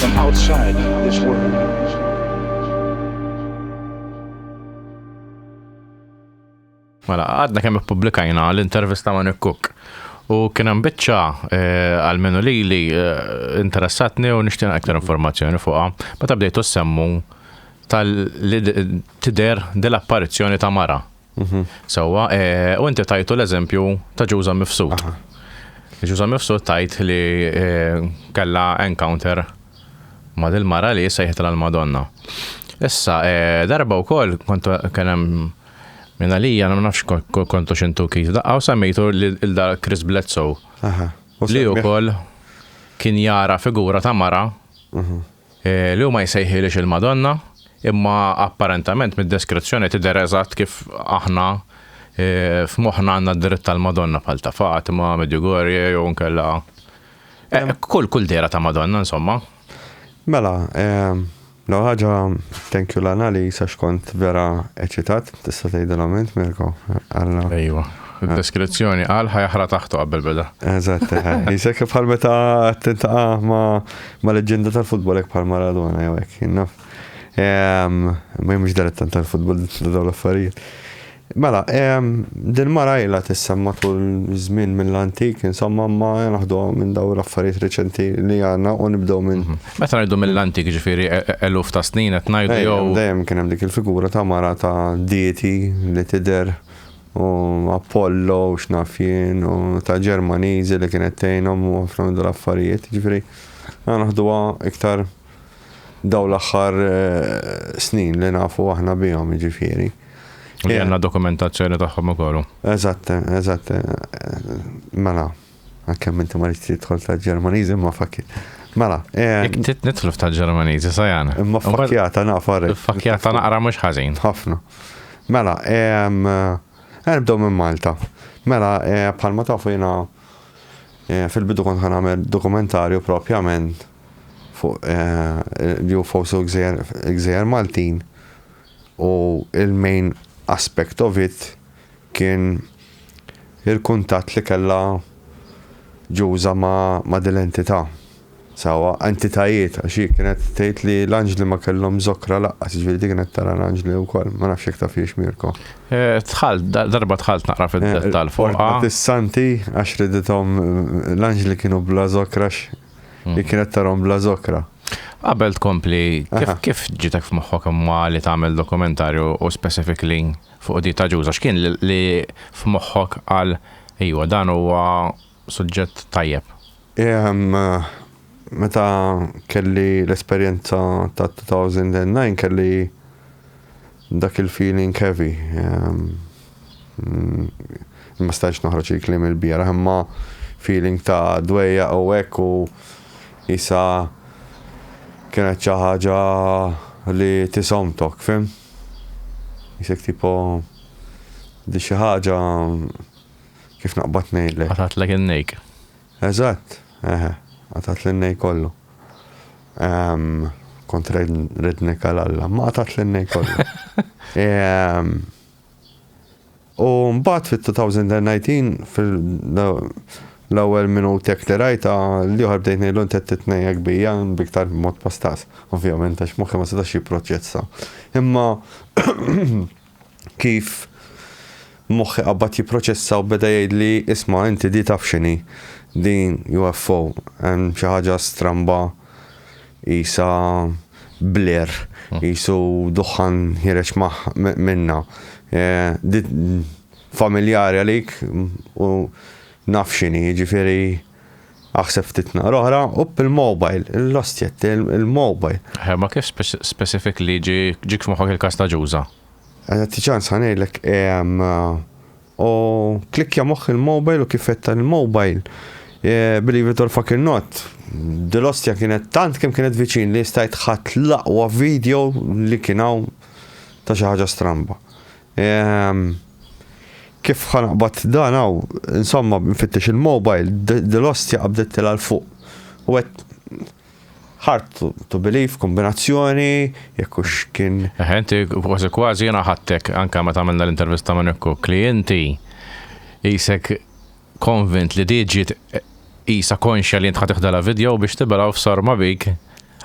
From outside this world. Mela, għadna kemm ippubblikajna l-intervista ma' Nick Cook. U kien hemm biċċa eh, għal minu li li eh, interessatni u nixtieq aktar informazzjoni fuqha. Meta bdejtu semmu tal-tider dell-apparizzjoni ta' mara Mhm. Sewwa, eh, u inti tajtu l-eżempju ta' ġuża mifsud. Ġuża mifsud tajt li eh, kella encounter ma' dil-mara li sejħet l-Madonna. Issa, eh, darba u koll, kontu kienem minna li jana nafx kontu xintu kif daqqa u semmejtu l-da Chris Bledsoe. Li u koll kien jara figura ta' mara mhm. Li hu ma jsejħilhiex il-Madonna, imma apparentament mid-deskrizzjoni tidher eżatt kif aħna f'moħħna għandna d-dritt tal-Madonna bħal ta' Fatima, Medjugorje jew inkella kull kull dehra ta' Madonna insomma. Mela, l-ewwel ħaġa thank you Lana li għax kont vera eċitat, tista' tgħidilhom int Mirko? Ejwa, id-deskrizzjoni qal ħa jaħra taħtu qabel beda. Eżatt, isek bħal meta tintaqa' ma' Ma leġġenda tal-futbol hekk bħal Maradona jew hekk, naf. Ma jimx darettan tal-futbol dawn l-affarijiet. Mela, din mara ila tissem matul żmien mill-antik, insomma ma naħdu minn daw l-affarijiet reċenti li għandna u nibdew minn. Mhm. Meta ngħidu mill-antik ġifieri e- e- eluf ta' snin qed ngħidu jew. Dejjem kien hemm dik il-figura ta' mara ta' dieti li tidher u Apollo u x'naf jien u ta' Ġermaniżi li kienet tgħinhom u ħafna minn l-affarijiet. Ġifieri, għana naħduha iktar daw l-aħħar eh, snin li nafu aħna bihom ġifieri. Li għanna dokumentazzjoni tagħhom ukoll. Eżatt, eżatt. Mela, Għalkemm inti ma rridx tidħol ta' Ġermaniżi imma fakki. Mela. Eh, Jek tit nitlu ta' Ġermaniżi sajan. Imma fakkjata naqra. Fakkjata naqra mhux ħażin. Ħafna. Mela, erbdew eh, minn Malta. Mela, eh, bħalma tafu jiena fil-bidu kont ħan għamel dokumentarju propjament fuq li hu fosu gżejjer Maltin u il-main aspect of it kien il-kuntatt li kellha Ġuża ma' din l-entità, sewwa entitajiet għax hi kienet tgħid li l-anġli ma kellhom żokra lanqas, jiġifieri di kienet tara l-anġli wkoll, ma nafx jekk tafhiex Mirko. Dħalt, darba dħalt naqra fid-dettall fuqha. Portat is-santi għax ridithom l-anġli kienu bla żokra għax hi kienet tarahom bla żokra. Qabel tkompli, kif kif ġietek f'moħħok imma li tagħmel dokumentarju u specifically fuq dieta ġuża x'kien li f'moħħok qal ejwa dan huwa suġġett tajjeb? Meta kelli l-esperjenza ta' 2009 kelli dak il-feeling heavy. Ma stajtx noħroġ il-kliem il-bieraħ imma feeling ta' dwejja u hekk u isa kienet xi ħaġa li tisomtok, fim? Jisek tipo di xi ħaġa kif naqbad ngħidlek. Qatgħatlek in-nejk. Eżatt, eħe, qatgħatli n-nejk kollu. Kont rednek għal Alla, ma qatgħatli n-nejk kollu. U mbagħad fit-2019 fil-ewwel minutek li rajta l-ieħor bdejt ngħidlu inti qed titnejja kbija biktar mod pastas, ovvjament għax moħħi ma setax jipproċessa. Imma kif moħħi qabbad jipproċessa u beda jgħidli isma' inti di taf x'inhi, din UFO, hemm xi ħaġa stramba Qisha blur, qisu duħħan ħiereġ minnha. Di familjari għalik u naf x'inhi, jiġifieri aħseb ftit nhar oħra, opp il-mobile, l-ostja il-mobile. Eħe, ma kif specifically ġiek f'moħħok il-każ ta' Ġuża? Għandi ċans ħa ngħidlek U klikkja moħħ il-mobile u kif fetta il-mobile. Eh, believe it or fucking not, dil-ostja kienet tant kemm kienet viċin li stajt ħadd l-aqwa video li kien hawn ta' xi ħaġa stramba. Ehm, kif ħanaqbad dan hawn, insomma, nfittex il-mobile, dil-ostja qabdet l fuq. U għet, Hard to believe, kombinazzjoni, jekk hux kien. Eħe, inti kważi kważi jiena ħadtek anke meta għamilna l-intervista ma' Nick Cook li inti qisek konvint li di ġiet qisha konxja li int ħa tiħdela video biex tibela u f'sarma bik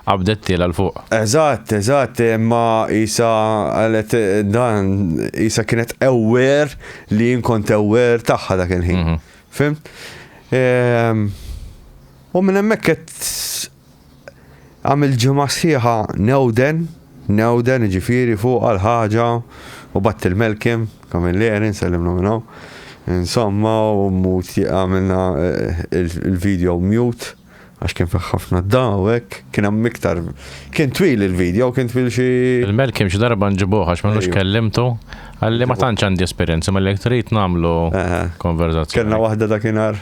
qabdettielha 'l fuq. Eżatt, eżatt, imma qisha qalet dan qisha kienet aware li jien kont aware tagħha dak il-ħin. Fimt? U minn hemmhekk qed għamilt ġimgħa sħiħa newden, newden jiġifieri fuq għal ħaġa u batt il-Melkim, Kamilleri, nsellimlu minn hawn. Insomma, u mmut għamilna eh, il-video mute għax kien fih ħafna daw hekk, kien hemm iktar kien twil il-video, kien twil xi. Il-Melkim xi darba nġibuh għax m'għandux kellimtu għalli ma tantx għandi esperjenza ma li trid nagħmlu konverzazzjoni. Kellna waħda dakinhar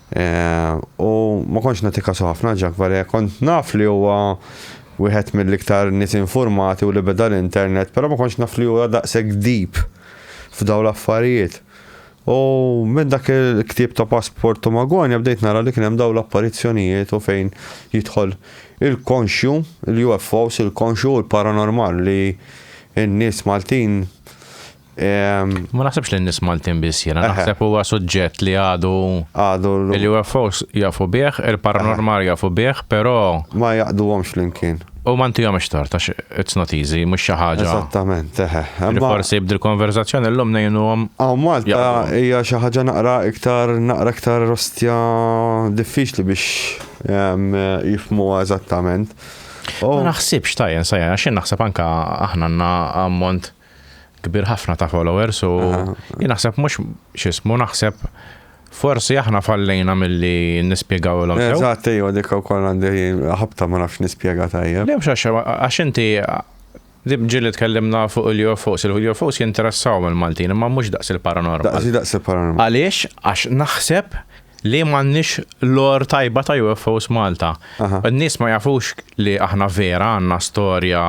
U ma kontx nagħti kasu ħafna Ġakvare, kont naf li huwa wieħed mill-iktar nies infurmati u li beda l-internet, però ma kontx naf li huwa daqshekk deep f'dawn l-affarijiet. U minn dak il-ktieb ta' Passport to Magonia bdejt nara li kien hemm dawn l-apparizzjonijiet u fejn jidħol il-konxju, il-UFOs, il-konxju u l-paranormal li n-nies Maltin Ma naħsebx li n-nies Maltin biss jiena, naħseb huwa suġġett li għadu għadu l-UFOs jafu bih, il-paranormal jafu bih, però ma jaqduhomx flimkien. U ma ntihom ixtar ta' it's not easy, mhux xi ħaġa. Eżattament, eħe. Forsi bdil konverzazzjoni llum ngħinuhom. Aw Malta hija xi ħaġa naqra iktar naqra iktar rostja diffiċli biex jifmuha eżattament. Ma naħsibx tajjen sajja, xi naħseb anke aħna għandna ammont kbir ħafna ta' followers u jien naħseb mhux x'ismu naħseb forsi aħna fallejna milli nispjegaw l Eżatt, ejja, dik ukoll għandi ħabta ma nafx nispjega tajjeb. Le mhux għax inti ġieli tkellimna fuq il-UFOs, il-UFOs jinteressaw mill-Maltin imma mhux daqs il-paranormal. Daqs daqs il-paranormal. Għaliex għax naħseb li m'għandniex lor tajba ta' UFOs Malta. N-nies ma jafux li aħna vera għandna storja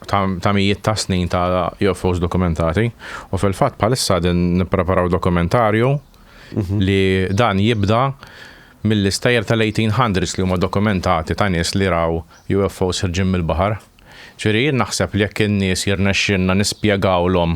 ta' mijiet ta' snin ta' UFOs dokumentati u fil-fatt bħalissa din nippreparaw dokumentarju mhm. li dan jibda mill-istajr tal-1800s li huma dokumentati ta' nies li raw UFOs ħirġin mill-baħar. Ġiri, naħseb li jekk in-nies jirnexxinna nispjegawlhom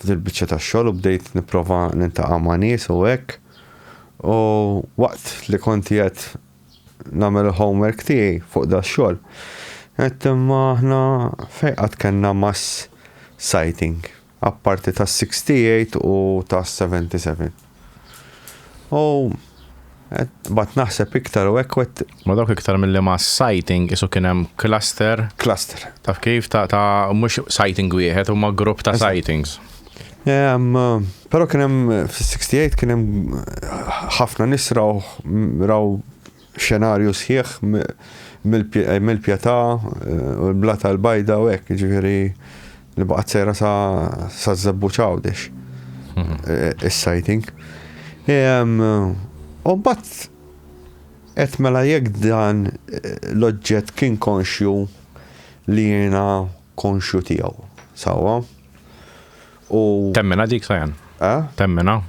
f'din il-biċċa tax-xogħol u bdejt nipprova nintaqa' ma' nies u hekk. U waqt li kont qiegħed nagħmel il-homework tiegħi fuq da xogħol, qed imma aħna fejn qatt kellna mass sighting, apparti tas-68 u tas-77. U bat naħseb iktar u hekk wet. Ma dawk iktar milli ma sighting isu kien hemm cluster. Cluster. Taf kif ta' ta' mhux sighting wieħed huma grupp ta' sightings. Um, pero kien hemm fis-68 kien hemm ħafna nies raw raw xenarju sħiħ mill-pjetà u l-blata l-bajda u hekk, jiġifieri li baqgħet sejra sa ż-żebbuġ Għawdex is-sighting. U mbagħad qed mela jekk dan l-oġġett kien konxju li jiena konxju tiegħu, sewwa? U Temminha dik, Sajan? Eh? Temminha?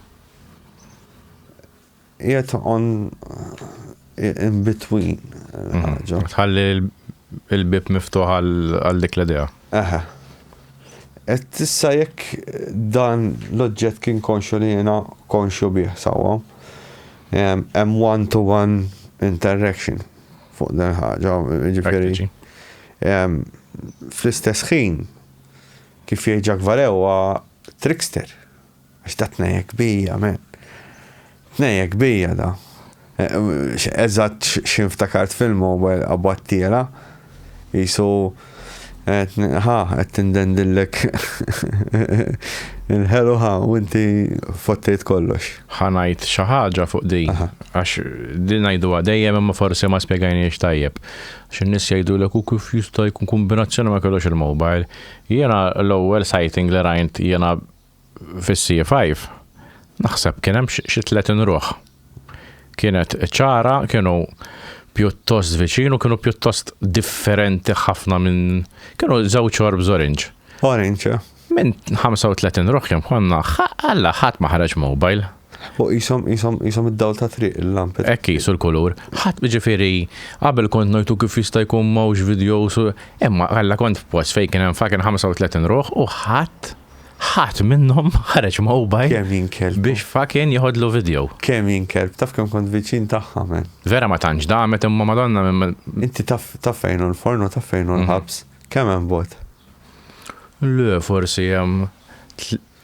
Qiegħed on in between il-ħaġa. Mhm. Tħalli il-bib miftuħ għal dik l-idea. Eħe. Et tissa jekk dan l-oġġett kien konxu li jena konxu bih sawa, hemm one-to-one interaction fuq dan ħaġa, ġifiri. Fl-istess ħin, kif jieġak varewa trickster. Għax da tnejjek bija, men. Tnejjek bija da. E, eżatt xi nftakart fil-mobile qabattiela. Jisu ħa qed tindendillek il-ħelu ħa u inti fottejt kollox. Ħanajt xi ħaġa fuq din għax din ngħiduha dejjem imma forsi ma spjegajniex tajjeb. Xi nies jgħidulek u kif jista' jkun kombinazzjoni ma kellux il-mobile. Jiena l-ewwel sighting li rajnt jiena Fis-CE five naħseb kien hemm xi tletin ruħ. Kienet ċara, kienu pjuttost viċin u kienu pjuttost differenti ħafna minn kienu żewġ orbs orange. Orange, eh? Minn 35 ruħ kemm konna, alla ħadd ma ħareġ mobile. U jisom, jisom, jisom id-dawl ta' triq il-lampet. Ekki, jisu l-kulur. ħat ġifiri, qabel kont najtu kif jista' jkun mawx videos, imma għalla kont post fejn kien hemm fakin 35 ruħ u ħadd ħadd minnhom ħareġ mobile. Kemm jinkelb. Biex fakin jħodlu video. Kemm jinkelb, taf kemm kont viċin tagħha men. Vera ma tantx damet imma madonna minn. Inti taf taf fejn l-fornu taf fejn mhm. l-ħabs. Kemm hemm bot? Le, forsi hemm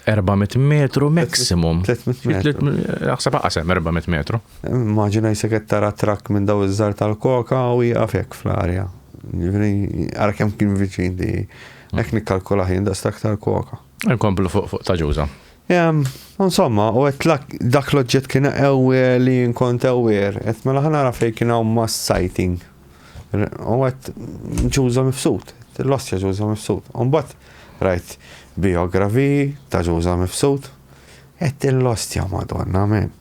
400 metru maximum. 300 metru. Naħseb aqasem 400 metru. Immaġina jisek tara trakk minn daw iż-żar tal-koka u jgħafek fl-arja. Għara kem kien viċin di Hekk nikkalkulah jien daqs l-aktar koka. Inkomplu fuq fuq ta' ġuża. Insomma, u għet dak l-oġġett kien ewer li nkont ewer, għet mela ħanara fej kien għaw mass sighting. U għet ġuża mifsud, l-ossja ġuża mifsud. Umbat, rajt biografi ta' ġuża mifsud, Għedt il-Ostja, Madonna, amen.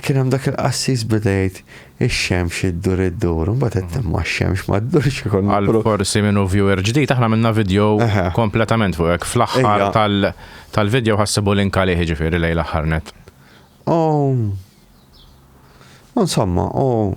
Kien hemm dak il-qassis beda jgħid, Ix-xemx iddur iddur, imbagħad għedt imma x-xemx ma ddurx ikun. Għal forsi min hu viewer ġdid, aħna għamilna vidjow kompletament fuq hekk. Fl-aħħar tal-vidjow ħa ssibu link għalih jiġifieri lejn l-aħħar nett. U insomma, u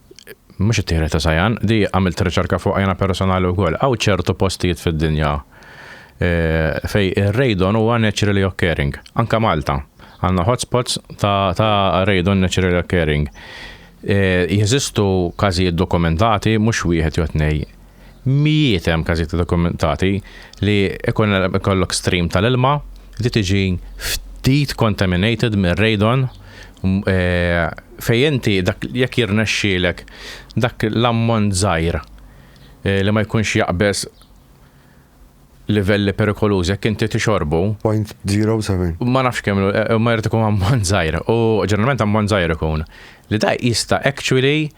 Mhux it-tieħda ta' Sajan, di għamilt riċerka fuqha jiena personali wkoll. Hawn ċertu postijiet fid-dinja eh, fej ir-radon huwa naturally occurring, anka Malta. Għandna hotspots ta', ta radon naturally occurring. Eh, jeżistu każijiet dokumentati mhux wieħed jew tnej Mijiet hemm każijiet dokumentati li ikun ikollok stream tal-ilma li tiġi ftit contaminated mir-radon eh, fejn inti dak jekk jirnexxielek dak l-ammont żgħir eh, li ma jkunx jaqbeż livelli perikolużi jekk inti tixorbu. 0.07. Ma nafx kemm eh, ma jrid ikun ammont żgħir u ġeneralment ammont żgħir ikun li da jista' actually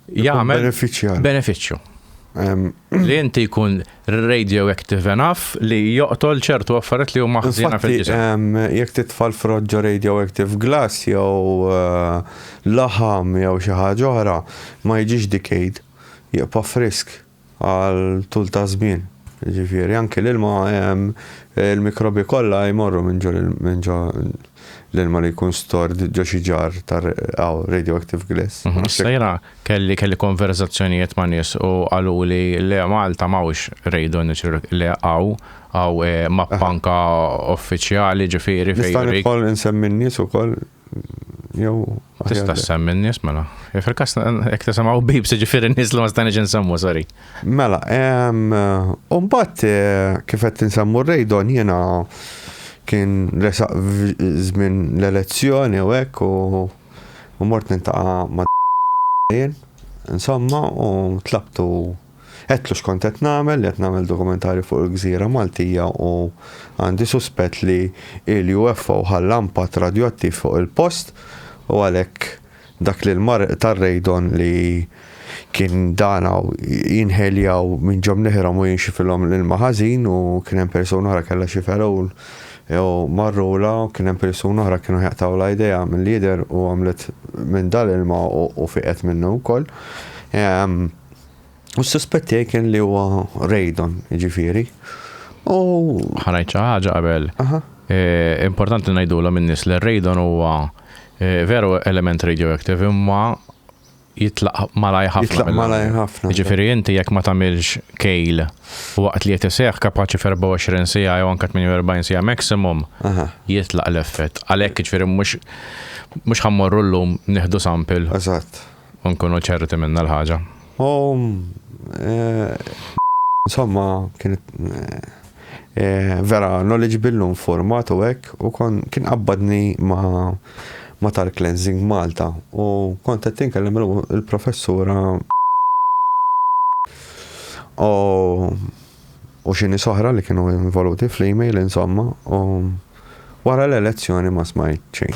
jagħmel benefiċċju. Benefiċċju. Li inti jkun radioactive enough li joqtol ċertu affarijiet li huma ħżina fil-ġisem. Jekk titfal froġġo radioactive glass jew uh, laħam jew xi ħaġa oħra ma jiġix decayed, jibqa' frisk. għal tul ta' żmien. Jiġifieri anki l-ilma hemm il-mikrobji kollha jmorru minn ġo minn ġo l-ilma li jkun stored ġo xi ġar ta' hawn radioactive glass. Sejra kelli kelli konverżazzjonijiet ma' nies u qaluli le Malta m'hawnx radio natural le hawn hawn mappa anke uffiċjali ġifieri fejn. Nista' nidħol insemmi n-nies ukoll? Jew. Tista' semmi n-nies mela. Fil-kas jekk tisimgħu bib se ġifieri n-nies li ma stajniex insemmu, sorry. Mela, u mbagħad eh, kif qed insemmu r-rejdon jiena kien resaq żmien l-elezzjoni u hekk u mort nintaqa' ma' insomma u tlabtu Għedtlu x'kont qed nagħmel, li qed nagħmel dokumentarju fuq il-gżira Maltija u għandi suspett li l-UFO ħalla impatt radjoattiv fuq il-post u għalhekk dak li l-mar tar-radon li kien dan hawn jinħeljaw minn ġo mniħrhom u jinxifilhom l-ilma ħażin u kien hemm persuna oħra kellha xi fergħul jew marrula u kien hemm persuna oħra kienu ħjaqtawlha idejha mill-jidher u għamlet minn dal-ilma u fiqet minnu wkoll. U s-suspett tiegħi kien li huwa Raydon, jiġifieri. U ħanajt xi ħaġa qabel. Eh, importanti li ngħidulhom in-nies li Raydon huwa eh, veru element radioactive imma jitlaq malaj ħafna. Jitlaq malaj ħafna. Ġifieri inti jekk ma tagħmilx kejl waqt li qed iseħħ kapaċi f'24 sija jew anke 48 sija maximum jitlaq l-effett. Għalhekk ġifieri mhux mhux ħammorru llum nieħdu sample. Eżatt. U nkunu ċerti minna l-ħaġa. U insomma kienet vera knowledgeable u informat u hekk u kien qabbadni ma' ma tal-Cleansing Malta u kont qed inkellem il-professura u xini soħra li kienu involuti fl-email insomma u wara l-elezzjoni ma smajt xejn.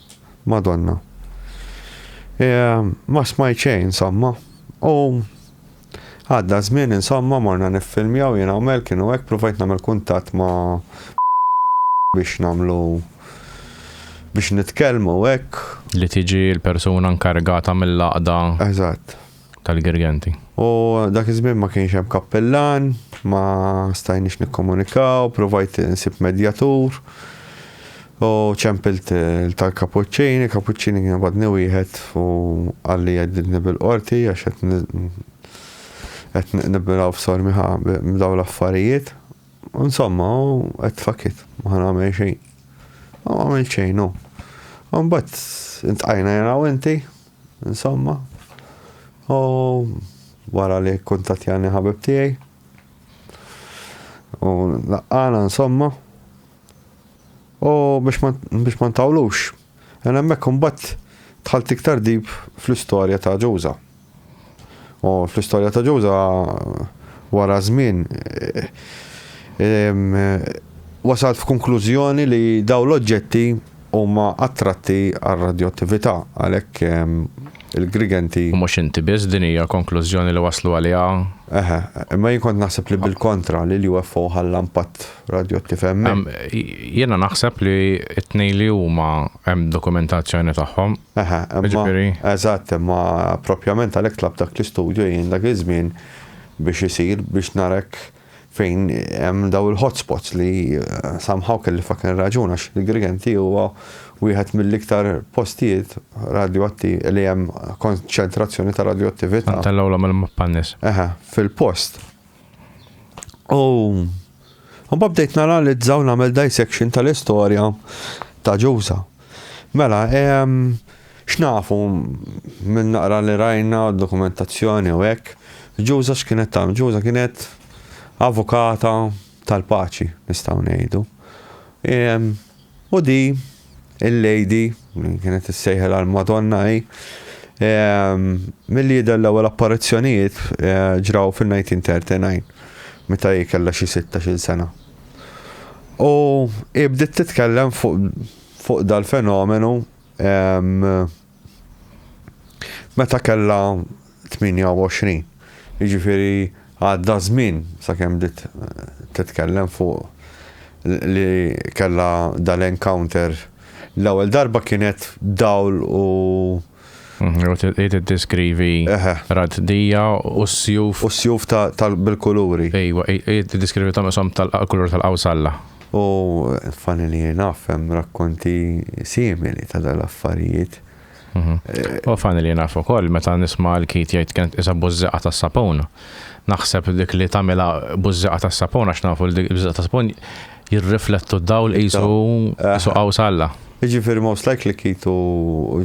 Madonna. E, ma smajt xejn, insomma. U għadda żmien, insomma, morna niffilmjaw jien għamel kienu hekk provajt nagħmel kuntatt ma' biex nagħmlu biex nitkellmu hekk. Li tiġi l-persuna nkargata mill-laqda. Eżatt. tal-Girgenti. U dak iż-żmien ma kienx hemm kappillan, ma stajniex nikkomunikaw, provajt nsib medjatur. U ċempilt tal-kapuċċini, kapuċċini kien badni wieħed u għalli għeddidni bil-qorti għax qed nibbilaw f'sormiħa b'daw l-affarijiet. Insomma, qed fakit, ma nagħmel xejn. Ma għamil xejn, u. Mbagħad intqajna jena u inti, Insomma, u wara li kuntattjani ħabib tiegħi u laqqana insomma u biex ma ntawlux. Għan hemmhekk imbagħad dħalt iktar dib fl-istorja ta' Ġuża. U fl-istorja ta' Ġuża wara żmien wasalt f'kunklużjoni li daw l-oġġetti huma attratti għal radjoattività għalhekk il-Grigenti. U mhux inti biss, din hija konklużjoni li waslu għaliha. Eħe, imma jien kont naħseb li bil-kontra li l-UFO ħalla impatt radjoattiv hemmhekk. Jiena naħseb li t-tnejn li huma hemm dokumentazzjoni tagħhom. Eħe, Jiġifieri. Eżatt, imma proprjament għalhekk tlabt dak l-istudju jien dak iż-żmien biex isir biex nara hekk fejn hemm dawn il-hotspots li somehow kelli fucking raġun għax il-Grigenti huwa wieħed mill-iktar postijiet radjoatti li hemm konċentrazzjoni ta' radjoattività. Tellgħulhom il-mappa n-nies. Eħe, fil-post. U Imbagħad bdejt nanalizza u nagħmel dissection tal-istorja ta' Ġuża. Mela, ehm, x'nafu minn naqra li rajna dokumentazzjoni u hekk, Ġuża x'kienet tagħmel? Ġuża kienet avukata tal-paċi, nistgħu ngħidu. Ehm, U di, il-lady, li kienet issejħel għal Madonna hi, ehm, milli jidher l-ewwel apparizzjonijiet eh, ġraw fil-1939, meta hi kellha xi 16-il sena. U hi bdiet titkellem fuq fuq dal-fenomenu ehm, Meta kellha 28. Jiġifieri għadda żmien sakemm bdiet eh, titkellem fuq li kellha dal-encounter. L-ewwel darba kienet dawl u Id diskrivi raddija u s-sjuf. U s-sjuf tal-bil-kuluri. Ejwa, id diskrivi ta' mesom tal-kulur tal-qawsalla. U funny li naf hemm rakkonti simili ta' dal-affarijiet. Mhm. Eh, u funny li naf ukoll meta nisma' l-kit jgħid kienet isa bużżeqa tas-sapun. Naħseb dik li tagħmilha bużżeqa tas-sapun għax nafu li bużżeqa tas-sapun jirriflettu d-dawl qisu qisu eh. qaws Alla. Ġifir most likely kitu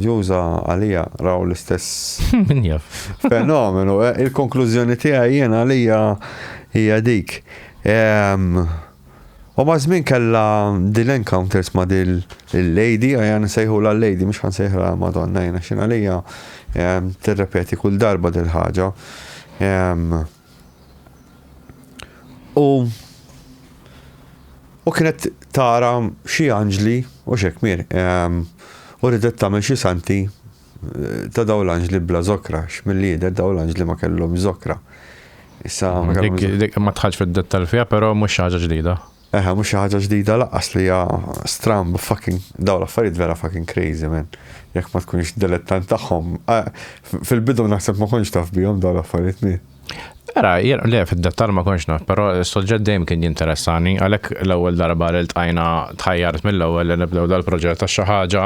ġuża għalija raw l-istess. Min jaf. Fenomenu. Il-konklużjoni tiegħi jiena għalija hija dik. U maż-żmien kellha dil encounters ma' dil il-lady, għajan nsejħula l-lady, mhux ħan sejħla Madonna jiena xi għalija ehm, tirrepeti kull darba dil ħaġa. Ehm, u u kienet tara xi anġli u xekmir. Ehm, u ridet tagħmel xi santi Ta' dawn l-anġli bla zokra, x'millidet dawn l-anġli ma kellhomx zokra. Issa ma kellhomx. Dik dik ma tħallx fid-dettall fiha, però mhux xi ħaġa ġdida. Eħe, mhux xi ħaġa ġdida laqqas li hija stramb fucking dawn l-affarijiet vera fucking crazy man. Jekk ma tkunx dilettant tagħhom. eh, f- Fil-bidu naħseb ma kontx taf bihom dawn l-affarijiet mi. Era, jien le fid-dettall ma kontx naf, però s-suġġett dejjem kien jinteressani, għalhekk l-ewwel darba li ltqajna tħajjart mill-ewwel li nibdew dal-proġett għax xi ħaġa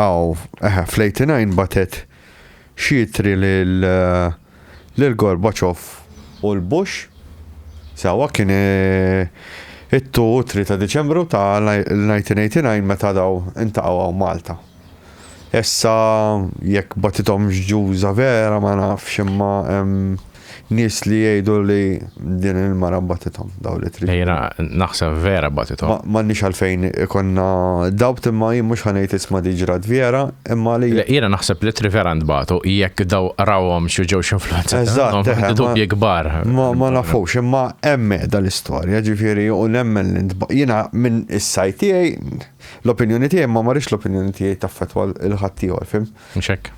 Aw, eħe, fl-89 bagħtet xi ittri lil lil Gorbaċov u l-Bush. Sewwa kien it-ttu u t-tri ta' Diċembru ta' l-1989 meta daw intaqgħu hawn Malta. Issa jekk bagħtithomx ġuża vera ma nafx imma hemm Nies li jgħidu li din il-mara batithom, dawn li trid. Jiena naħseb vera batithom. M'għandniex għalfejn ikollna doubt imma jien mhux ħa ngħid isma' Di Ġrat Vjera imma li. Le, jiena naħseb li tri vera ntbagħtu jekk daw rawhomx u ġewx influwenzati. Eżatt. Għandi dubji kbar. Ma nafux imma hemm mehda l-istorja, ġifieri u nemmen li ntbagħtu. Jiena minn is-side tiegħi, l-opinjoni tiegħi imma ma rridx l-opinjoni tiegħi taffettwa lil ħaddieħor, fhimt? Mhux hekk.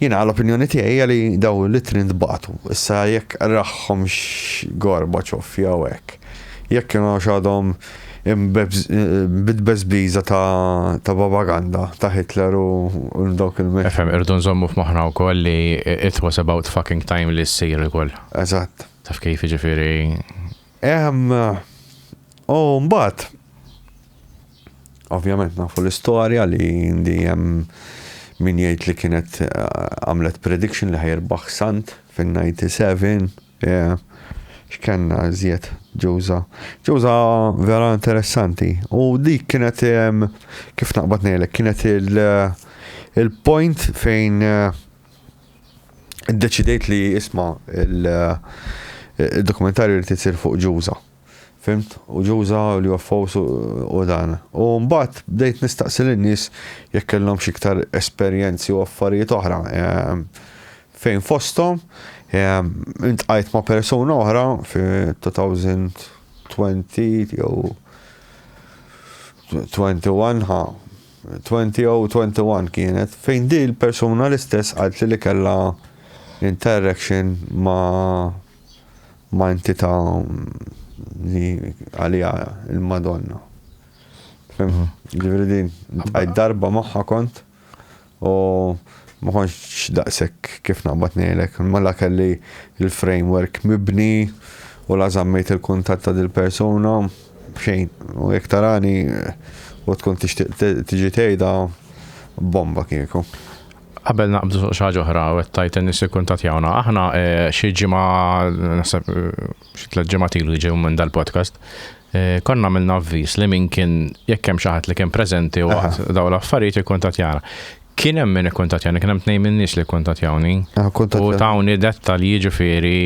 Jiena l-opinjoni tiegħi hija li daw l-ittri ntbagħtu. Issa jekk qrahomx Gorbachev jew hekk, jekk kienux għadhom bit-tbeżbiża ta' babaganda ta' Hitler u dawk il-. Ifhem, irridu nżommu f'moħħna wkoll li it was about fucking time li ssir ukoll. Eżatt. Taf kif, jiġifieri. Ehm, u mbagħad, Ovvjament nafu l-istorja li indi hemm min jgħid li kienet eh, għamlet prediction li ħajrbaħ sant fin-97. Yeah. X'kenna żjed ġuża. Ġuża vera interessanti. U dik kienet kif naqbad ngħidlek kienet il-point fejn eh, iddeċidejt li isma' il-dokumentarju eh, li tisir fuq ġuża. Fhimt? U ġo uża l-UFOs u u dan. U mbagħad bdejt nistaqsi lin-nies jekk kellhomx iktar esperjenzi u affarijiet oħra. Ehm, fejn fosthom ehm, intqajt ma' persuna oħra fi 2020 jew 21 ha 20 jew 21 kienet fejn di l-persuna l-istess qalt li li kellha interaction ma' ma' entità li għalija il-Madonna. Ġifieri din għaj darba magħha kont u ma konx daqshekk kif naqbad ngħidlek, mela kelli il-framework mibni u la żammejt il-kuntatt ta' dil-persuna xejn. U jekk tarani u tkun tixtieq tiġi tgħidha bomba kieku. Qabel naqbdu fuq xi ħaġa oħra u qed tgħid in-nies ikkuntattjawna, aħna xi ġimgħa naħseb xi tliet ġimgħat ilu jiġu minn dal-podcast Eh, konna għamilna avvis li min kien jekk hemm xi ħadd li kien preżenti u daw l-affarijiet ikkuntatjana. Kien hemm min ikkuntatjani, kien hemm tnejn minn nies li kkuntatjawni. Ah, u tawni dettalji jiġifieri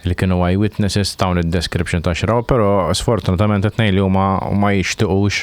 li kienu għaj witnesses tawni id-description ta' xraw, però sfortunatament it-tnejn li huma ma jixtiqux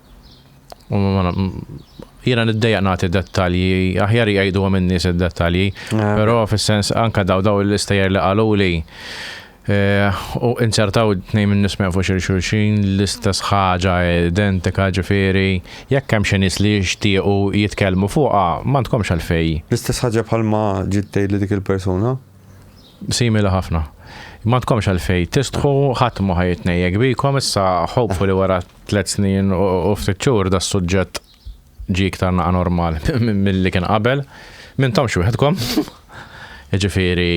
Jiena niddejjaq nagħti dettalji, aħjar jgħiduhom in-nies id-dettalji, ah. però fis-sens anka daw daw l-istejjer li qaluli eh, u inċertaw tnejn minn nismew fuq xulxin l-istess ħaġa identika ġifieri jekk hemm xi nies li jixtiequ jitkellmu fuqha ma tkomx għalfej. L-istess ħaġa bħalma ġittej li dik il-persuna? Simili ħafna. M'għandkomx għalfejn tistħu, ħadd ma ħa jitnejjek bikom, issa hopefully wara tliet snin u ftit xhur da s-suġġett ġie iktar naqa' normal milli kien qabel. M'intomx wieħedkom. Jiġifieri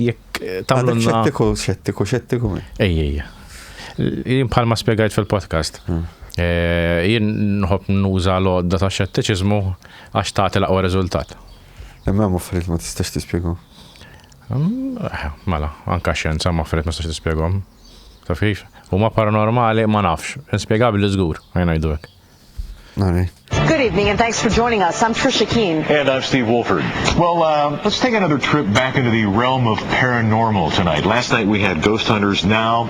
jekk tagħmlulna. Xettiku, xettiku, xettiku. Ejja, ejja. Jien bħalma spjegajt fil-podcast. Hmm. Eh, jien nħobb nuża l-għodda ta' xettiċiżmu għax tagħti l-aqwa riżultat. Imma hemm affarijiet ma tistax tispjegahom. Eh, mela, anka xjenza ma affarijiet ma tistax tispjegahom. Taf kif? Huma paranormali ma nafx, inspjegabbli żgur, għajna jdu hekk. Good evening and thanks for joining us. I'm Trisha Keene. And I'm Steve Wolford. Well, uh, let's take another trip back into the realm of paranormal tonight. Last night we had ghost hunters. Now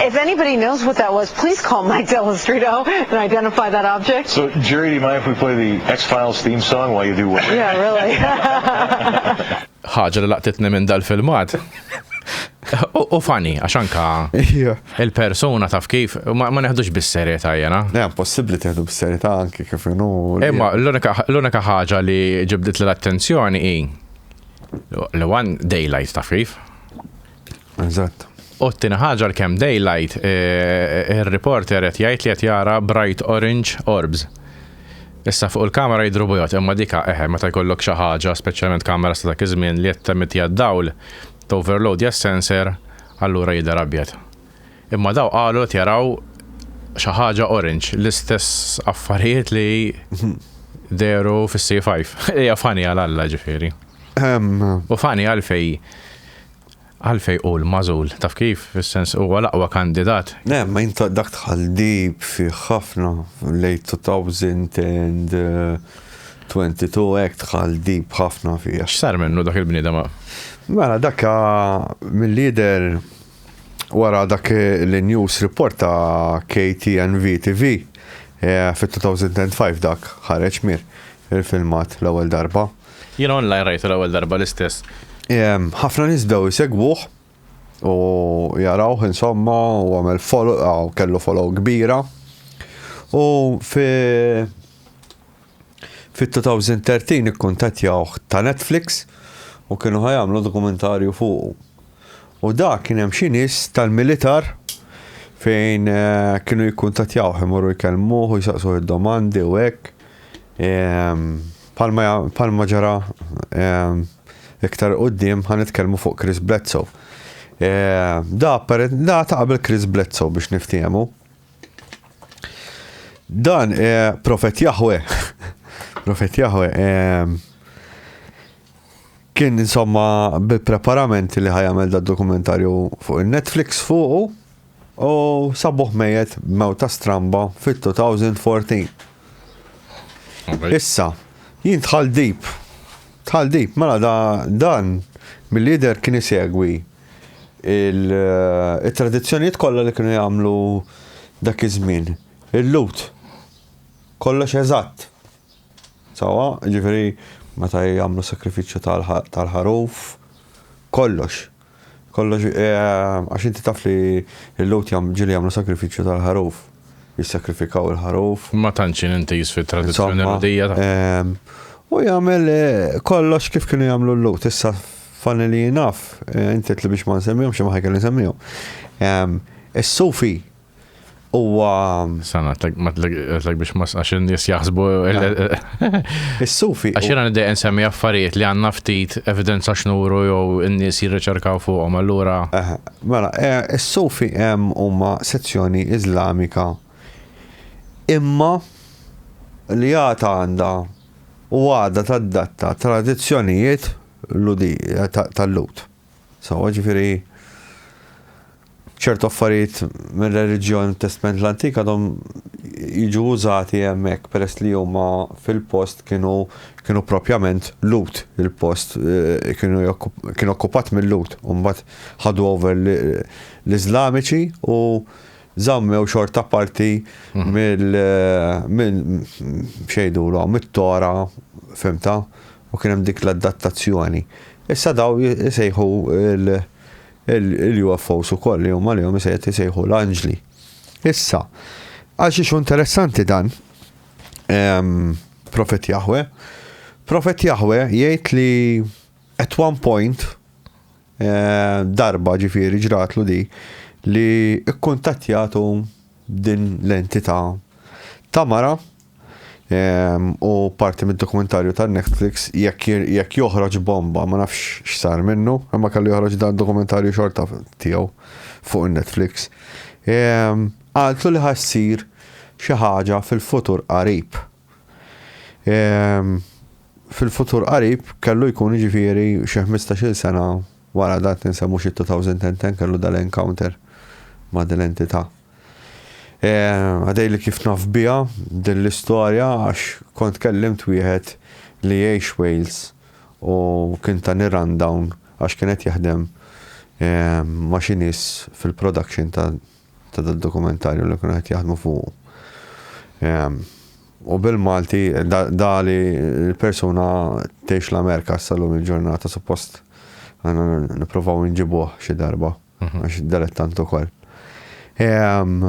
If anybody knows what that was, please call Mike Dell'Istrito and identify that object. So, Jerry, do you mind if we play the X-Files theme song while you do what? Yeah, really. Ħaġa li laqtitni minn dal-filmat. U fani, għax anka il-persona taf kif, ma neħdux bis-serjetà jena. Ne, possibli teħdu bis-serjetà anki kif jenu. Imma l-unika ħaġa li ġibdit l-attenzjoni i l-one daylight taf kif. Eżatt. U t-tina ħaġa l-kem daylight, il-reporter qed jgħid li qed jara bright orange orbs. Issa fuq il-kamera jidru bujot, imma dika eħe meta jkollok xi ħaġa, speċjalment kamera sa dak iż-żmien li qed temitija d-dawl, toverload ja sensor, allura jidher abjad. Imma daw qalu qed jaraw xi ħaġa orange, l-istess affarijiet li dehru fis-C5. Hija funny għal Alla ġifieri. U funny għalfejn Għalfejn hu l-magħżul? Taf kif? Fis-sens, huwa l-aqwa kandidat. Le, ma int dak tħallib fih ħafna, late 2022 hekk tħallib ħafna fih. X'sar minnu dak il-bniedem? Mela dak mill-jidher wara dak l-news report ta' KTNV TV fit-2005 dak ħareġ mir il-filmat l-ewwel darba. Jiena online rajtu l-ewwel darba l-istess. Ħafna nies bdew isegwuh u jarawh insomma u għamel follow kellu follow kbira. U fi fit-2013 ikkuntattjawh ta' Netflix u kienu ħajamlu dokumentarju fuq. U dak kien hemm xi nies tal-militar fejn kienu jikkuntattjawh imorru jkellmuh u jsaqsuh id-domandi u hekk. Palma ġara iktar quddiem ħa nitkellmu fuq Chris Bledsoe. Da da ta' qabel Chris Bledsoe biex niftiehmu. Dan profet Jahwe, profet Jahwe Kien insomma bi preparamenti li ħajamel da dokumentarju fuq il-Netflix fuqu u sabuħ mejet mewta stramba fit-2014. Issa, jien tħal dip. Tħal dip, mela da, dan mill-lider kien isegwi il-tradizzjonijiet kollha li kienu jagħmlu dak iż-żmien. Il-lut. Kollox eżatt. Sewwa, jiġifieri meta jagħmlu s-sagrifiċċju tal-ħaruf, kollox, kollox, għax inti taf li l-Lhud ġieli jagħmlu sagrifiċċju tal-ħaruf, jissagrifikaw il-ħaruf. Ma tantx jien intiż fit-tradizzjoni Lhudija. U jagħmel kollox kif kienu jagħmlu l-Lhud. Issa fanni li jien naf, inti li biex ma nsemmihomx imma ħajkolli nsemmihom. Is-Sufi Huwa. Sana, għatlek biex mas għax n-nis jaħsbu. Is-sufi. Għax jena nidej nsemmi affarijiet li għanna ftit evidenza xnuru jew n-nis jirriċerkaw fuqhom allura. Mela, eh, is-sufi hemm huma sezzjoni Iżlamika imma li għata għanda u għada tad-datta tradizzjonijiet tal-lut. Sewwa, ġifieri ċertu affarijiet mir-reliġjon Testment l-Antik għadhom jiġu użati hemmhekk peress li huma fil-post kienu kienu propjament Lut il-post eh, kienu kien okkupat mill-Lut u mbagħad ħadu over l-Iżlamiċi u żammew xorta parti mhm. mill eh, minn xejdu mit-tora fimta U kien hemm dik l-addattazzjoni. Issa daw isejħu l-UFOs ukoll li huma lihom isejħet isejħu l-anġli. Issa, għal xi interessanti dan, ehm, Profet Jahwe, Profet Jahwe jgħid li at one point Eh, darba ġifiri ġratlu di li kkuntattjatu din l-entità ta' mara ehm, u parti mid-dokumentarju ta' Netflix jekk joħroġ bomba ma nafx x'sar minnu, imma kellu joħroġ dan dokumentarju xorta tiegħu fuq Netflix. Ehm, għaltu li ħassir xi ħaġa fil-futur qarib Fil-futur qarib kellu jkun jiġifieri xi ħmistax-il sena wara dak li nsemmu xi 2010 kellu dal-encounter ma' din l-entità. Għadejli kif naf biha din l-istorja għax kont kellimt wieħed li jgħix Wales u kien tani rundown għax kien qed jaħdem ma' xi nies fil-production ta' ta' dal-dokumentarju li kienu qed jaħdmu fuq. Ehm, u bil-Malti, da li l-persuna tgħix l-Amerika s-salum il-ġurnata, suppost għanna niprofaw nġibuħ xi darba, mhm. għax dilettant ukoll. Ehm,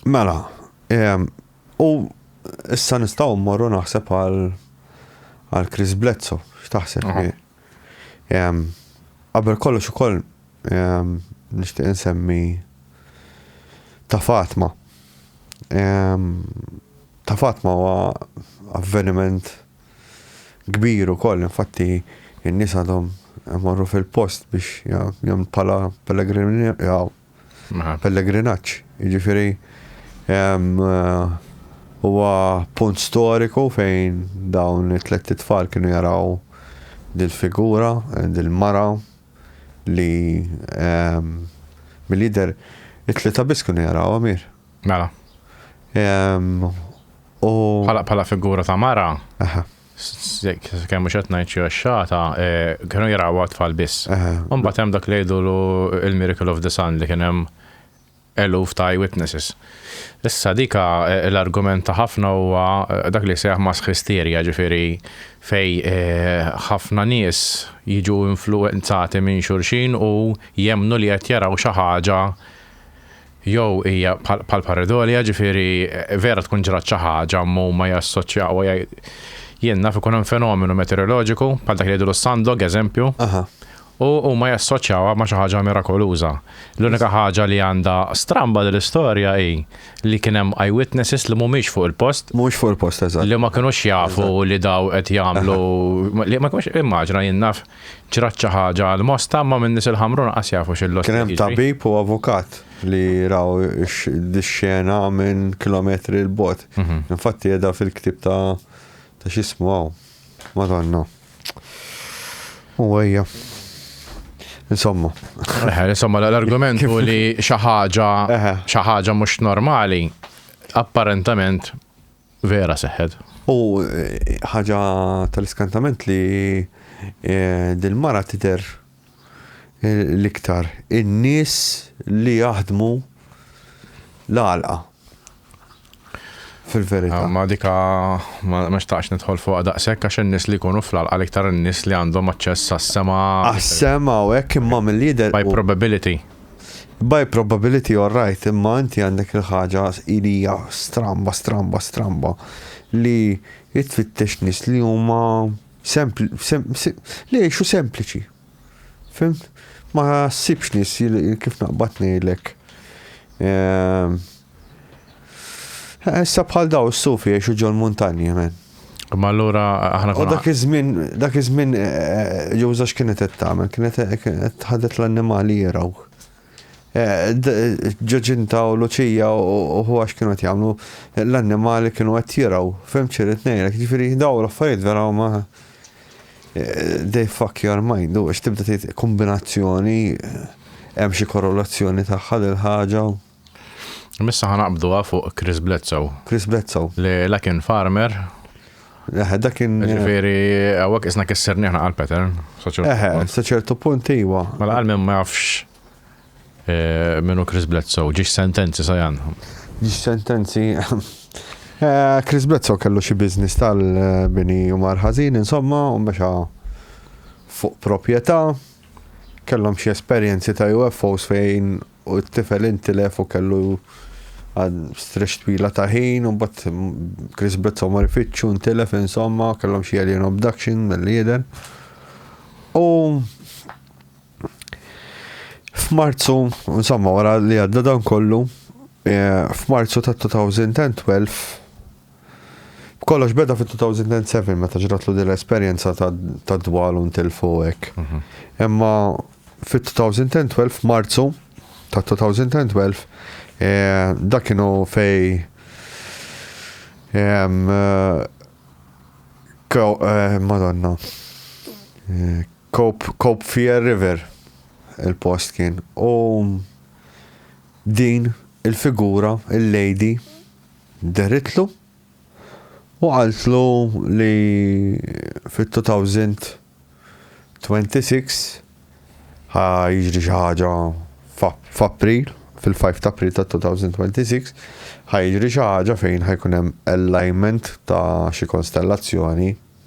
mela, ehm, u issa nistgħu mmorru naħseb għal Chris Bledsoe, x'taħseb? Mhm. Qabel kollox ukoll nixtieq insemmi ta' Fatma. Ta' Fatma huwa avveniment kbir ukoll, infatti n-nies għadhom morru fil-post biex jagħmlu bħala pellegrin pellegrinaġġ. Jiġifieri huwa punt storiku fejn dawn it-tlett itfal kienu jaraw dil-figura, dil-mara li mill-jidher it-tlieta biss kienu jaraw Amir. Mela. Bħala figura ta' mara. Kemm mhux qed ngħid xi għaxxata, eh, kienu jarawha tfal biss. Imbagħad hemm dak li jgħidulu il-Miracle of the Sun li kien hemm eluf ta' eyewitnesses. Issa dika eh, l-argument ta' ħafna huwa eh, dak li seħ mass hysteria, ġifieri fej ħafna nies jiġu influenzati minn xulxin u jemnu li qed jaraw xi ħaġa Jew hija bħal paridolja, ġifieri vera tkun ġrat xi ħaġa ma huma jassoċjaw u jgħid jien naf ikun hemm fenomenu meteoroloġiku bħal dak li jgħidulu s-sandog eżempju, u huma jassoċjawha ma' xi ħaġa mirakoluża. L-unika ħaġa li għandha stramba din l-istorja hi li kien hemm eye witnesses li mhumiex fuq il-post. Mhumiex fuq il-post, eżatt. Li ma kinux jafu li dawn qed jagħmlu, li ma kinux, immaġina jien naf Ġrat xi ħaġa għal Mosta, imma min-nies il-Ħamrun anqas jafu xi l-lotja jiġri. Kien hemm tabib u avukat li raw dix-xena minn kilometri 'l bogħod. Infatti qiegħda fil-ktieb ta' ta' x'ismu hawn. Madonna. U ejja. Insomma. Eħe, insomma l-argument hu li xi ħaġa xi ħaġa mhux normali apparentament Vera seħħet. U eh, ħaġa tal-iskantament li eh, dil-mara tider eh, l-iktar in-nies li jaħdmu l-għalqa. Fil-verità. Ma dika ma xtaqx nidħol fuq daqshekk għax in-nies li jkunu fl-għalqa l-iktar in-nies li għandhom aċċess għas-sema. Għas-sema u hekk imma mill-lider. By probability. By probability you're right, imma inti għandek il-ħaġa li hija stramba, stramba, stramba li jitfittex nis li huma sempli, sem, sem, li jiexu sempliċi. Fim? Ma sibx nis kif naqbad ngħidlek. Ehm, Issa bħal daw s-sufi jiexu ġol muntanji, men. Ma allura aħna konna. Dak iż-żmien, dak iż-żmien eh, eh, ġewża x'kienet qed tagħmel, kienet qed ħadet l-annimali jiraw. Eh, ġoġinta u Luċija u huwa x'kienu qed jagħmlu l-annimali kienu qed jiraw, fim ċirit ngħidlek, ġifieri daw l-affarijiet vera huma they fuck your mind, u tibda tgħid kombinazzjoni hemm xi korrelazzjoni tagħha lil ħaġa. Missa ħanaqbduha fuq Chris Bledsoe. Chris Bledsoe. Li la kien farmer. Eħe, dak kien. Ġifieri, hawnhekk isna kisser nieħna għal pattern. Eħe, sa ċertu punt iwa. Mela għal ma jafx eh, minnu Chris Bledsoe, ġiex sentenzi sa jan. Ġiex sentenzi. Eh, Chris Bledsoe kellu xi biznis tal-bini u marħazin, insomma, u mexa fuq proprjetà, kellhom xi esperjenzi ta' UFOs fejn u t-tifel intilef u kellu għad strex twila ta' ħin u bat Chris Bledsoe mar ifittxu ntilef insomma kellhom xi alien abduction mill-lieder. U f'Marzu, insomma wara li għadda dan kollu, eh, f'Marzu ta' 2012 Kollox beda fit-2007 meta ġratlu din l-esperjenza tad-dwal u ntilfu hekk. Mhm. Imma fit-2012 f'Marzu ta' 2012 eh, dak kienu fej ehm, eh, eh, Madonna. Cope Fear River il-post kien. U din il-figura, il-lady, Dehritlu u qaltlu li fit-2026 ħa jiġri xi ħaġa f'April, fil-5 ta' April tad-2026, ħa jiġri xi ħaġa fejn ħa jkun hemm alignment ta' xi konstellazzjoni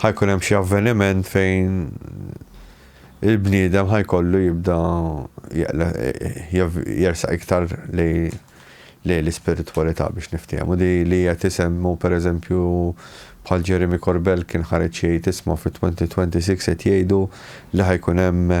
ħa jkun hemm xi avveniment fejn il-bniedem ħa jkollu jibda jersaq iktar lej lej l-ispiritwalità biex niftehmu. Di li qed isemmu pereżempju bħal Jeremy Corbell kien ħareġ jgħid isma' fit-2026 qed jgħidu li ħajkun hemm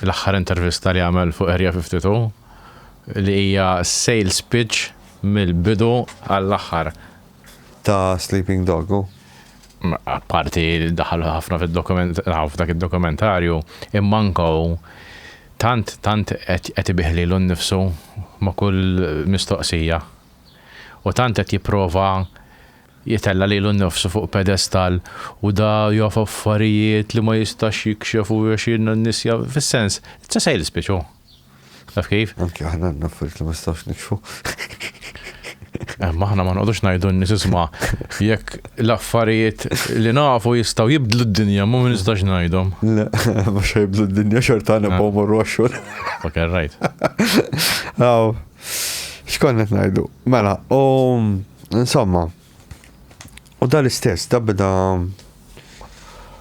fl-aħħar intervista li għamel fuq Area 52 li hija sales pitch mill-bidu għall-aħħar. Ta' Sleeping Dog u? Parti daħal ħafna fid-dokument, f'dak id-dokumentarju, imma ankaw tant tant qed ibiħli l nnifsu ma' kull mistoqsija. U tant qed jipprova Jitella' lilu nnifsu fuq pedestall u da jaf affarijiet li ma jistax jikxef u għax jiena n-nies ja fis-sens, it's a sales pitch hu. Taf kif? Anki aħna għandna affarijiet li ma nistgħux nikxfu. Imma aħna ma noqgħodux ngħidu n-nies isma' jekk l-affarijiet li nafu jistgħu jibdlu d-dinja ma ma nistax ngħidhom. Le, mhux ħa jibdlu d-dinja xorta nibqgħu mmorru għax-xogħol. Fucking right. Aw. X'konna qed ngħidu? Mela, u insomma, u dal istess da beda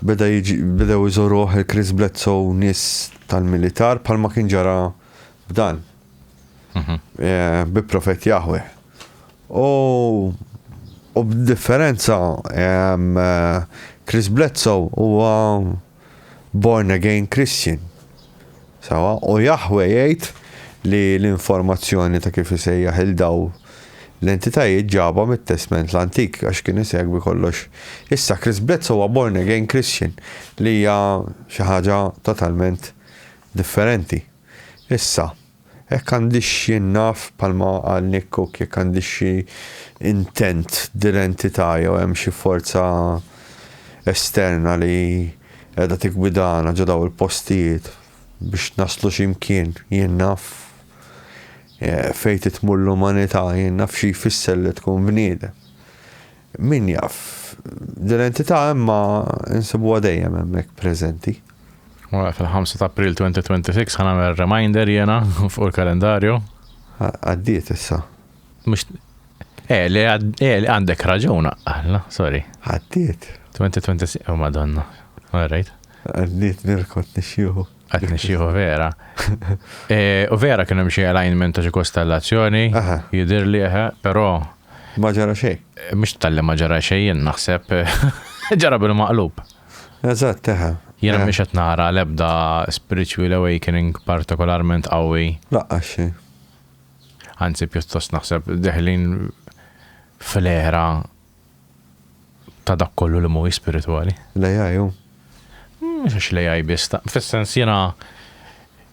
beda jiġi beda jżoruh il-Chris Bledsoe nis tal-militar bħalma kien ġara b'dan. Mhm. Eh, bi profet Jahwe. U u b'differenza eh, Chris Bledsoe huwa born again Christian. Sawa, u Jahwe jgħid li l-informazzjoni ta' kif isejjaħ il daw l-entitajiet ġaba mit-Testment l-Antik għax kien isegwi kollox. Issa Chris Bletz huwa born again Christian li hija xi ħaġa totalment differenti. Issa, Hekk għandhiex jien naf, bħalma qal Nick Cook, jekk għandhiex xi intent d'identità jew hemm xi forza esterna li qiegħda tiggwidana ġo dawn il-postijiet biex naslu xi mkien. Jien naf fejn titmur l-umanità, jien naf xi jfisser li tkun bniedem. Min jaf? Din l-entità hemm ma nsibuha dejjem hemmhekk preżenti. Mela fil-5 ta' April 2026 ħa nagħmel reminder jiena fuq il-kalendarju. Għaddiet issa. Mhux Eh, li eh, għandek raġun, għalla, sorry. Għaddiet. 2026, oh madonna. All right. Għaddiet nirkot nixjuħu. Għat nixieħu vera. Eh, u vera kien hemm xi alignment ta' xi kostellazzjoni, jidir li eħe, eh, però. Ma ġara xejn. Eh, mhux tal-li ma ġara xejn naħseb ġara bil-maqlub. Eżatt, eħe. Jena biex qed nara l-ebda spiritual awakening partikolarment qawwi. Laqqa xi. Anzi pjuttost naħseb deħlin fl-era ta' dak kollu li mhuwiex spiritwali. L-AI hu? Mhux għax l-AI biss, fis-sens jiena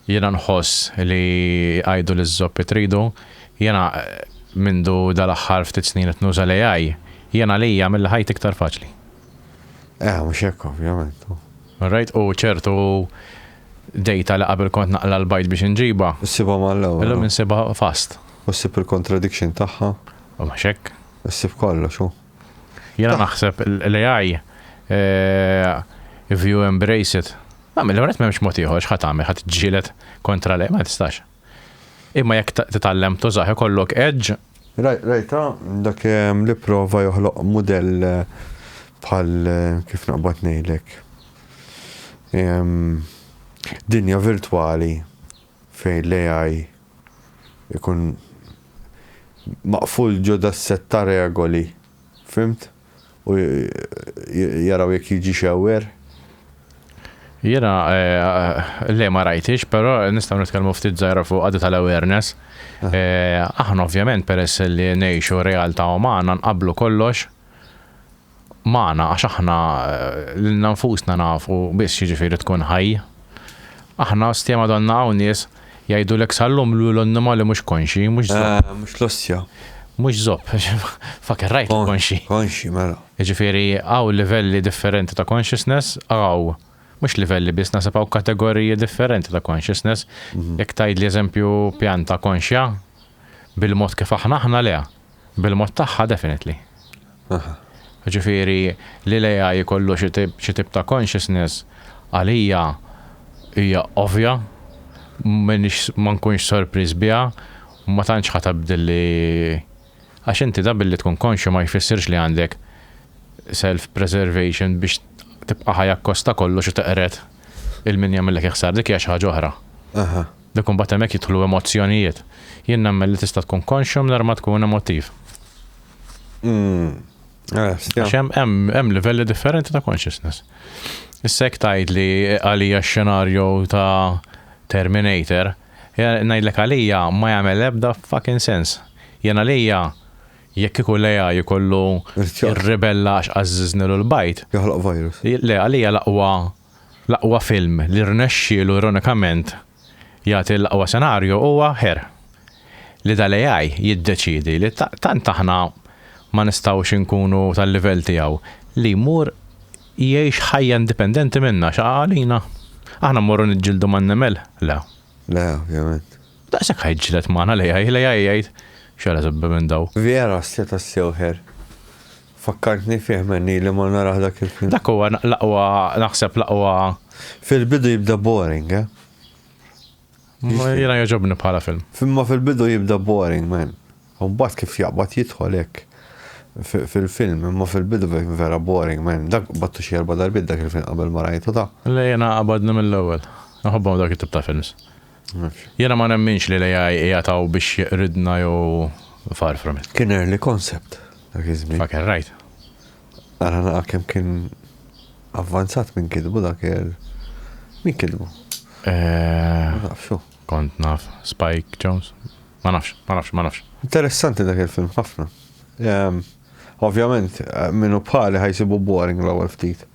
jiena nħoss li għidu liż-żoppi tridu, jiena mindu dal-aħħar ftit snin qed nuża l-AI, jien għalija għamilli ħajti iktar faċli. Eh, mhux hekk ovvjament. All right, u ċertu dejta li qabel kont naqla l-bajt biex inġibha. Issibha mal-ewwel. Illum insibha fast. U ssib il-contradiction tagħha. U mhux hekk. Issib kollox hu. Jiena naħseb l-AI if you embrace it. Nagħmel mela, l-għonet m'hemmx mod ieħor x'ħa tagħmel ħadd ġġieled kontra l-AI ma tistax. Imma jekk titgħallem tużaħ ikollok edge. Rajta dak ehm, li prova joħloq mudell eh, bħal eh, kif naqbad ngħidlek. Ehm, dinja virtwali fejn l-AI ikun maqful ġo das-sett ta' regoli, fhimt? u jaraw jekk jiġix aware? Jiena, le ma rajthiex, però nistgħu nitkellmu ftit żgħira fuqha di tal-awareness. Aħna ovvjament peress li ngħixu realtà umana nqabblu kollox, magħna għax aħna lilna nfusna nafu biss x'jiġifieri tkun ħaj. Aħna stja Madonna hawn nies jgħidulek sal-lum li hu l-onnima li mhux konxji, mhux zopp. Eh, mhux l-ostja. Mhux zopp, faker rajt konxji. Konxji, mela. Jiġifieri hawn livelli differenti ta' consciousness, hawn mhux livelli biss nasab hawn kategoriji differenti ta' consciousness. Mhm. Jekk tgħidli eżempju pjanta konxja bil-mod kif aħna aħna le. Bil-mod tagħha definitely. Ġifieri li l-AI jkollu xi tip ta' consciousness għalija hija ovvja, ma nkunx sorpriż biha, ma tantx ħa tibdel li għax inti da billi tkun konxju ma jfissirx li għandek self preservation biex tibqa' ħaj akkost ta' kollox u teqred 'il min jagħmillek il-ħsara, dik hija xi ħaġa oħra. Dak imbagħad hemmhekk jidħlu emozzjonijiet. Jien nemmen li tista' tkun konxju mingħajr ma tkun emottiv. Mm. Għax hemm livelli differenti ta' consciousness. Issa jekk tgħid li għalija x-xenarju ta' Terminator, ngħidlek għalija ma jagħmel ebda fucking sens. Jien għalija jekk ikun leja jkollu ribella għax għażiżni l bajt. Joħloq virus. Le, għalija l-aqwa L-aqwa film li rnexxielu ironikament jagħti l-aqwa senarju huwa Her, li dal-AI jiddeċiedi li tant aħna ma nistgħux inkunu tal-livell tiegħu li jmur jgħix ħajja indipendenti minna. Xi qa għalina? Aħna mmorru niġġieldu man-nemel? Le. Le, ovvjament. Daqshekk ħa jiġġieled magħna l-AI, l-AI jgħid, X'għala tibbi minn dawn? Vera, seta' ssew Her. Fakkartni fih m'għen ili ma narah dak il-film. Dak huwa l-aqwa naħseb l-aqwa. Fil-bidu jibda boring, eh? Jiena jogħġobni bħala film. Imma fil-bidu jibda boring, man. U mbagħad kif jaqbad jidħol hekk fil-film, imma fil-bidu vera boring, man. Dak battu xi erba' darbiet dak il-film qabel ma rajtu ta. Le jiena qabadni mill-ewwel. Naħobbhom dak it-tip ta' films. Jiena ma nemminx li l-AI qiegħed hawn biex jqridna jew far from it. Kien early concept dak iż-żmien. Fucking right. Ara nara kemm kien avvanzat minn kitbu dak il- Min kitbu? Eh. Ma nafx hu. Kont naf Spike Jonze? Ma nafx, ma nafx, ma nafx. Interessanti dak il-film ħafna. Ovvjament, min hu bħali ħajsibu boring l-ewwel ftit.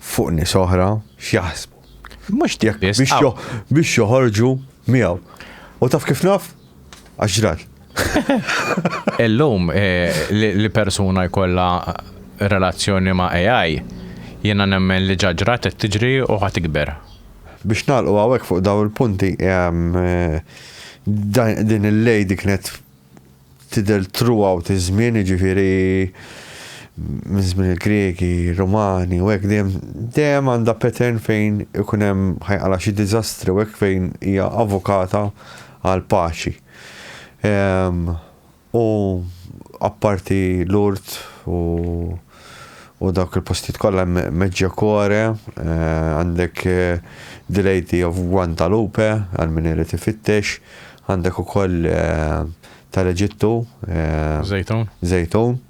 fuq nies oħra x'jaħsbu. Mhux dik biex joħorġu miegħu. U taf kif naf? Għax ġrat. Illum eh, li persuna jkollha relazzjoni ma' AI, jiena nemmen li ġaġrat qed tiġri u ħad ikber. Biex nagħlqu hawnhekk fuq dawn il-punti eh, din il-lady kienet tidher throughout iż-żmien, jiġifieri minn żmien il-Griegi, Rumani u hekk dejjem dejjem għandha pattern fejn ikun hemm ħajqala xi diżastri u hekk fejn hija avukata għal paċi. Ehm, u apparti l-urt u u dawk il-postijiet kollha Medjokore, għandek The Lady of Guantalupe għal min irid ifittex, għandek ukoll tal-Eġittu. Zejtun. Zejtun.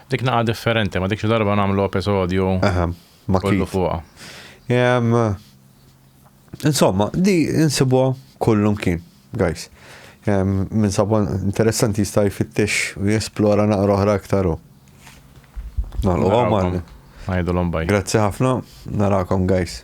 Dik naqa differenti, ma dik xi darba nagħmlu episodju. Aha, ma kienu fuqha. Insomma, di insibuha kullum kien, guys. Min sabu interessanti jista' jfittex u jesplora naqra oħra aktar u. Nagħlqu għamal. Għajdulhom baj. Grazzi ħafna, narakom guys.